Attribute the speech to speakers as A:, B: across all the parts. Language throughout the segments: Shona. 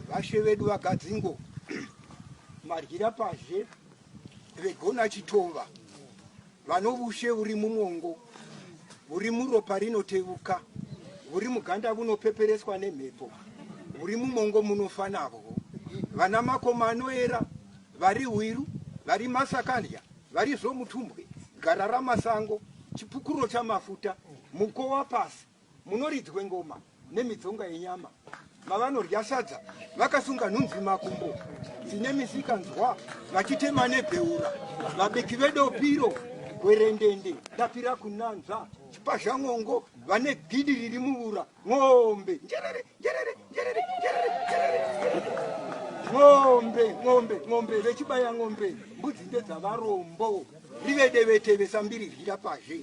A: vashe vedu vagadzingo madyira pazhe vegona chitova vanovushe uri mumwongo uri muropa rinotevuka uri muganda vunopepereswa nemhepo uri mumongo munofa navo vana makoma anoera vari hwiru vari masakandya vari zvomutumbwe gara ramasango chipukuro chamafuta mukowa pasi Munoridzwe ngoma nemidzonga yenyama mavanorya sadza vakasunga nhunzi makumbo dzine misikanzwa vachitema nebheura vabiki vedopiro gwerendende dapira kunanzva chipazhan'ongo vane gidi riri muvura n'ombe njerere njerere njerere njerere njerere n'ombe n'ombe n'ombe vechibaya n'ombe mbudzi ndedzavarombo rivedeveteve sambiri ryira pazhe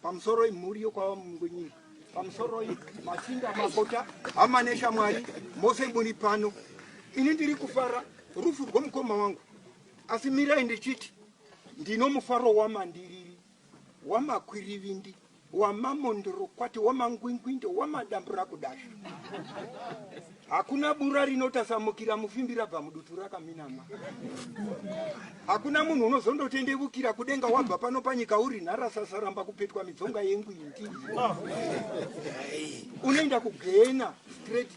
A: pamusoro imhuri yokwava mungwenyika pamusoroi machinda makota hama neshamwari mose muri pano ini ndiri kufara rufu rwomukoma wangu asi mirai ndichiti ndino mufaro wamandiriri wamakwirivindi wamamondorokwati wamangwingwindo wamadambura kudasha Hakuna bura rinotasamukira mufimbi rabva mudutu rakaminama. Hakuna munhu unozondotendevukira kudenga wabva pano panyika uri nharasasa ramba kupetwa midzonga yengwindi. Unoenda kugena straight.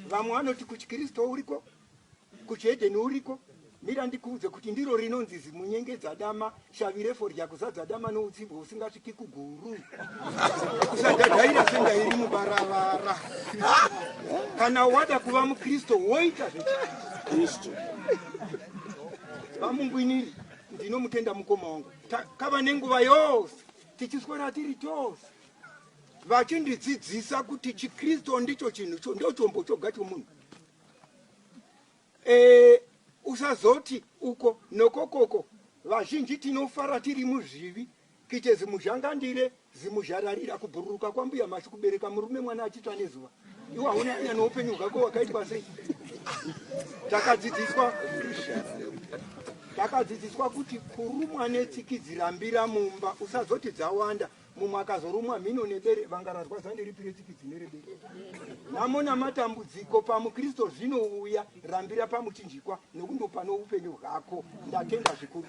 A: Vamwe vanoti kuchikristu uriko Kuchihedheni uriko, mira ndikuudze kuti ndiro rinonzi zimunyengedzadama, shavi refodya kuzadza dama noutsimbwa husingasviki kuguru. Kusadhadhaira senda iri mubaravara. Kana wada kuva muKristu woita zvechiKristu. Vamungwiniri, ndinomutenda mukoma wangu. Takava nenguva yose tichiswera tiri tose vachindidzidzisa kuti chiKristu ndicho chinhu ndochombo choga chomunhu. Eh, usazoti uko nokokoko vazhinji tinofara tiri muzvivi kite zimuzhangandire zimuzhararira kubhururuka kwambuya mashu kubereka murume mwana achitsva nezuva iwa unanya noupenyu hwako wakaitwa sei takadzidziswa takadzidziswa kuti kurumwa netsikidzi rambira mumba usazoti dzawanda mumwe akazorumwa mhino nebere vanga rarwadza ndiripi retsikidzi nerebere nhamo namatambudziko pamukristu zvinouya rambira pamuchinjikwa nekundopa noupenyu hwako ndatenda zvikuru